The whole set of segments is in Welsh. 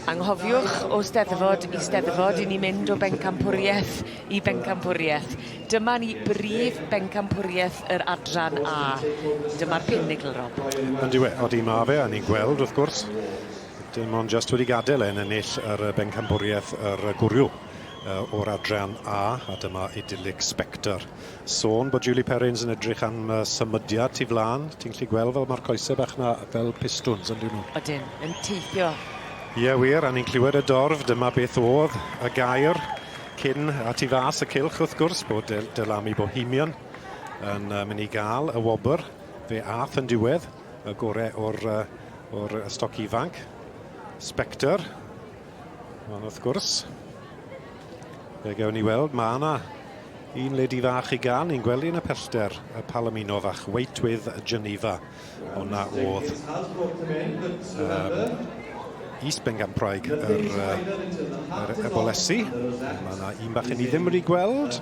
Anghofiwch, o Steddfod i Steddfod, i ni mynd o bencampwriaeth i bencampwriaeth. Dyma ni brif bencampwriaeth yr adran A. Dyma'r pinigl, Rob. Ond yw e? Odi mae fe, a ni'n gweld, wrth gwrs, dim ond just wedi gadael e'n ennill yr bencampwriaeth yr gwrw. o'r adran A, a dyma idyllic Spector. Sôn bod Julie Perrins yn edrych am uh, symudiad tu flaen. Ti'n gallu gweld fel mae'r coesau bach na fel pistwns yn dyn nhw? Ydyn, yn teithio. Ie yeah, wir, a ni'n clywed y dorf, dyma beth oedd y gair cyn a tu fas y cilch wrth gwrs bod Del Delami Bohemian yn uh, mynd i gael y wobr fe ath yn diwedd y gorau o'r, uh, or stoc ifanc. Spectre, Ond wrth gwrs, fe gewn ni weld, mae yna un ledi fach i gan, ni'n gwely yn y pellter, y Palomino fach, Wait with Geneva. Hwna oedd um, East Bengampraeg yr, yr ebolesi. Mae yna un bach i ni ddim wedi gweld.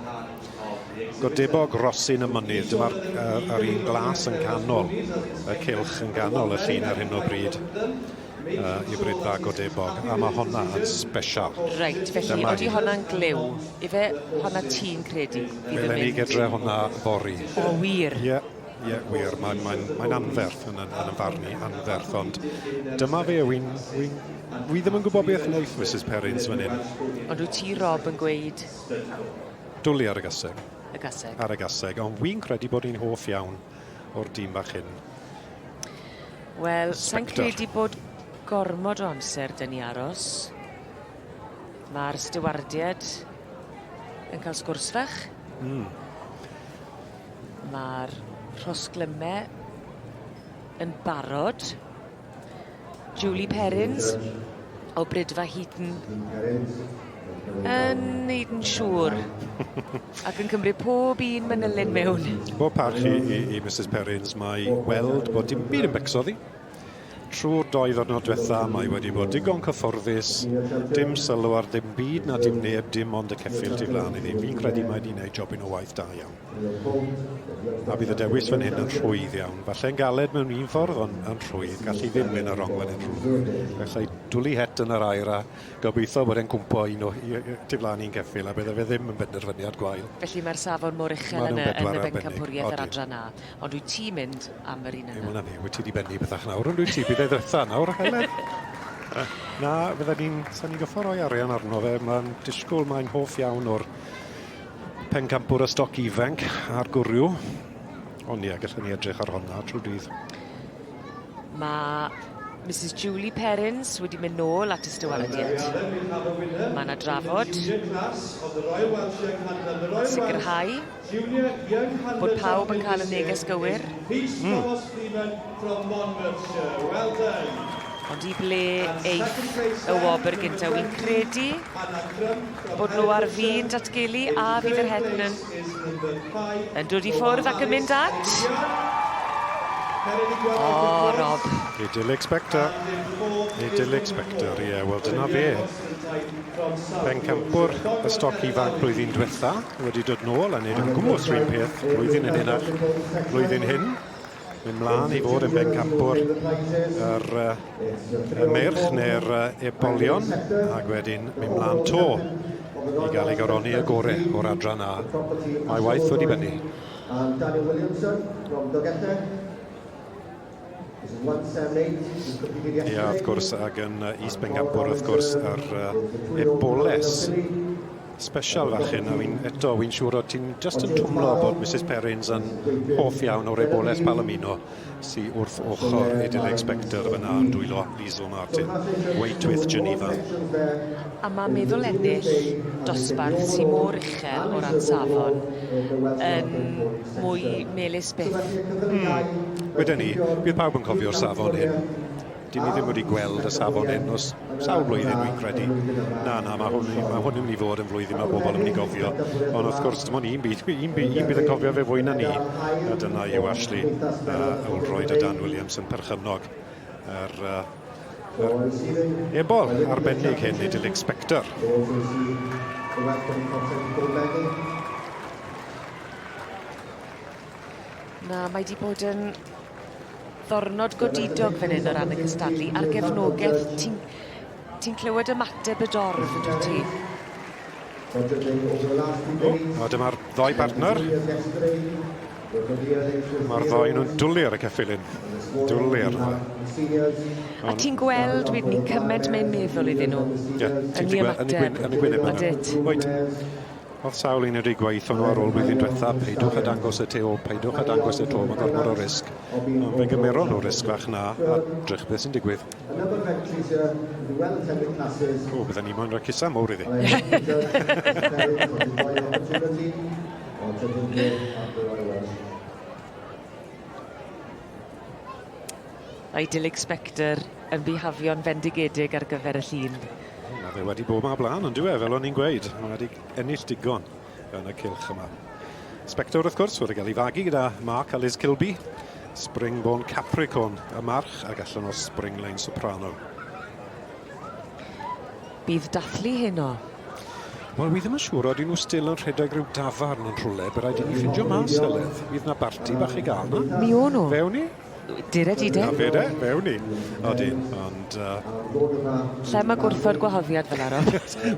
Godebog Rosin y Mynydd, dyma'r uh, un glas yn canol, y cilch yn ganol y llun ar hyn o bryd. uh, i bryd dda godebog, a mae honna yn special. Reit, felly, Dyma oeddi honna'n glyw. Ife honna ti'n credu? Fel ni gydre honna fori. O, wir? Ie. Yeah. Ie, yeah, wir. Mae'n mae, mae, mae anferth yn, yn, yn y farn i, anferth. Ond dyma fe, wy'n... Wy, wy ddim yn gwybod beth wnaeth Mrs Perrins fan hyn. Ond wyt ti, Rob, yn gweud... Dwli ar y gaseg. Y gaseg. Ar y gaseg. Ond wy'n credu bod hi'n hoff iawn o'r dîm bach hyn. Wel, sa'n credu bod gormod o amser dyn ni aros. Mae'r stiwardiad yn cael sgwrs fach. Mm. Mae'r rhosglymau yn barod. Julie Perrins o Brydfa Heaton yn neud yn siŵr ac yn cymryd pob un manylyn mewn. Bob parch i, i, i Mrs Perrins, mae weld bod dim byd yn becso ddi. Trwy'r doi ddwrnod diwetha, mae wedi bod digon cyfforddus, dim sylw ar ddim byd na dim neb, dim ond y ceffil tu flaen iddi. Fi'n credu mae wedi gwneud jobyn o waith da iawn. A bydd y dewis fan hyn yn rhwydd iawn. Falle'n galed mewn un ffordd, ond yn rhwydd. Gallu ddim mynd ar rong fan hyn rhwydd. Gallai dwli het yn yr aer a gobeithio bod e'n cwmpo un o tu flaen i'n ceffyl, a bydde fe ddim yn benderfyniad gwael. Felly mae'r safon mor uchel yn y bencampwriaeth yr adran 'na, ond wyt ti'n mynd am yr un yna? Dim ond hynny, wyt ti 'di bennu bethach nawr yn dwyt ti? Bydd e ddwetha nawr, Heledd. Na, fydden ni'n... 'sen ni'n gorfod rhoi arian arno fe, mae'n disgwyl, mae'n hoff iawn o'r Pencampwr a stoc ifanc ar gwrw. Ond ie, gallwn ni edrych ar honna trwy dydd. Mae Mrs Julie Perrins wedi mynd nôl at y stywarded. Mae yna drafod. Sicrhau bod pawb yn cael y neges gywir. Mm. From Monmouthshire, well done! Ond i ble eith y wobr gynta? Wi'n credu bod nhw ar fin datgelu a fydd yr Hetman yn dod i ffwrdd ac yn mynd at... O, Rob. Idil Expector. Idil Expector, ie, yeah, wel dyna fe. Pencampwr y stoc ifanc blwyddyn diwetha wedi dod nôl a wneud yn gwmwys rhywun peth blwyddyn yn hynach, blwyddyn hyn. Mynd mlaen i fod yn bencampwr yr y meirch neu'r ebolion ac wedyn mynd mlaen to i gael ei goroni y gore o'r adran A. Mae waith wedi bennu. And Daniel Williamson from Dogella. Ia, wrth gwrs, ac yn East Bencampwr, wrth gwrs, yr eboles. Special fachyn, a fi'n eto, fi'n siŵr o ti'n just yn twmlo bod Mrs Perrins yn hoff iawn o'r ebolaeth Palomino sy wrth ochr Edilleg Spector fyna yn dwylo Liesl Martin, Wait with Geneva. A mae meddwl ennill dosbarth sy mor uchel o ran safon yn mwy melys byth. Mm. Weden i, bydd pawb yn cofio'r safon hyn. Dyn ni ddim wedi gweld y safon hyn os sawl blwyddyn dwi'n credu. Na, na, mae hwn, mae hwn yn mynd i fod yn flwyddyn mae bobl yn mynd i gofio. Ond wrth gwrs, dim ond un bydd, un bydd, un bydd yn cofio fe fwy na ni. A dyna yw Ashley a Ewlroyd a Dan Williams yn perchynog yr, uh, yr ebol arbennig hyn i Dillig Spector. Na, mae di bod yn Ddornod godidog fan hyn o ran y cystadlu a'r gefnogeth ti'n ti'n clywed ymateb y dorf yndwt ti? O, dyma'r ddoi bartner. Mae'r ddoi nhw'n dwlu ar y ceffilyn. Dwlu ar hwnna. A ti'n gweld wedyn ni cyment mae'n meddwl iddyn nhw? Ie, ti'n gweld yn y gwyneb yna. Oedwyt. Oedd sawl un wedi gweithio nhw ar ôl blwyddyn diwetha, peidiwch a dangos y tu ôl, peidiwch a dangos y to, mae gormod o risg. Ond fe gymeron nhw risg fach 'na, a drych beth sy'n digwydd. O, bydden ni moyn rhoi cusa mowr iddi. Idyllic Spectre yn bihafio'n fendigedig ar gyfer y llun. O, mae fe wedi bod yma blaen, ond dwi e, fel o'n i'n gweud. Mae wedi ennill digon yn y cilch yma. Spectre, wrth gwrs, wedi cael ei fagu gyda Mark a Liz Kilby. Springborn Capricorn y march ac allan o'r Springline Soprano. Bydd dathlu heno? Wel, wi ddim yn siŵr, oedden nhw still yn rhedeg rhyw dafarn yn rhwle, bydd rhaid i ni ffindio mas, Heledd. Fydd na barti bach i gael na? Mi o nhw. Fe ni? Dur a dide. A fede, fe wn i. Odi, ond... Uh... Lle mae gwrthod gwahoddiad fel arall?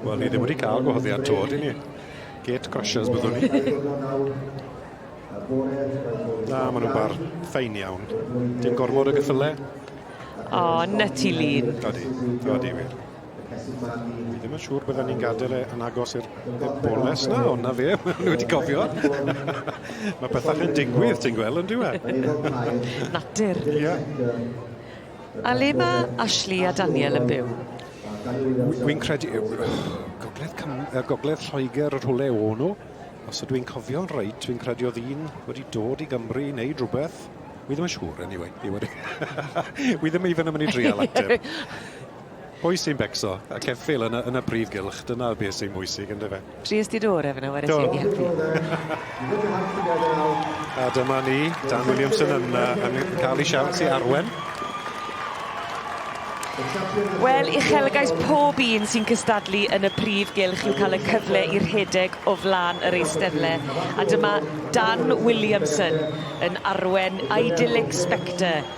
Wel, ni ddim wedi cael gwahoddiad to, dyn ni. Gate crashers byddwn ni. Na, maen nhw'n bar ffein iawn. Dim gorfod y gyffyle. O, oh, nutty lean. Odi, odi wir. Dwi ddim yn siŵr bydden ni'n gadael e yn agos i'r boles na, ond na fe, maen nhw wedi cofio. Mae pethau yn digwydd, ti'n gweld, yn diwedd. Natur. Ia. A le mae Ashley a Daniel yn byw? Wy'n credu... Gogledd, Cym, uh, Gogledd Lloegr yr hwle o nhw. Os ydw i'n cofio'n reit, fi'n credu oedd un wedi dod i Gymru i wneud rhywbeth. Wy ddim yn siŵr, anyway. Wy ddim even yn mynd i drial ateb. Pwy sy'n becso? Y ceffyl yn y, yn y prif gylch, dyna beth sy'n bwysig, ynddo fe? Tries ti dŵr efo nhw ar y Do. tîm i helpu? A dyma ni, Dan Williamson yn, uh, yn cael ei siawns i arwen. Wel, uchelgais pob un sy'n cystadlu yn y prif gylch yw cael y cyfle i rhedeg o flaen yr eisteddle. A dyma Dan Williamson yn arwen Idyllic Spectre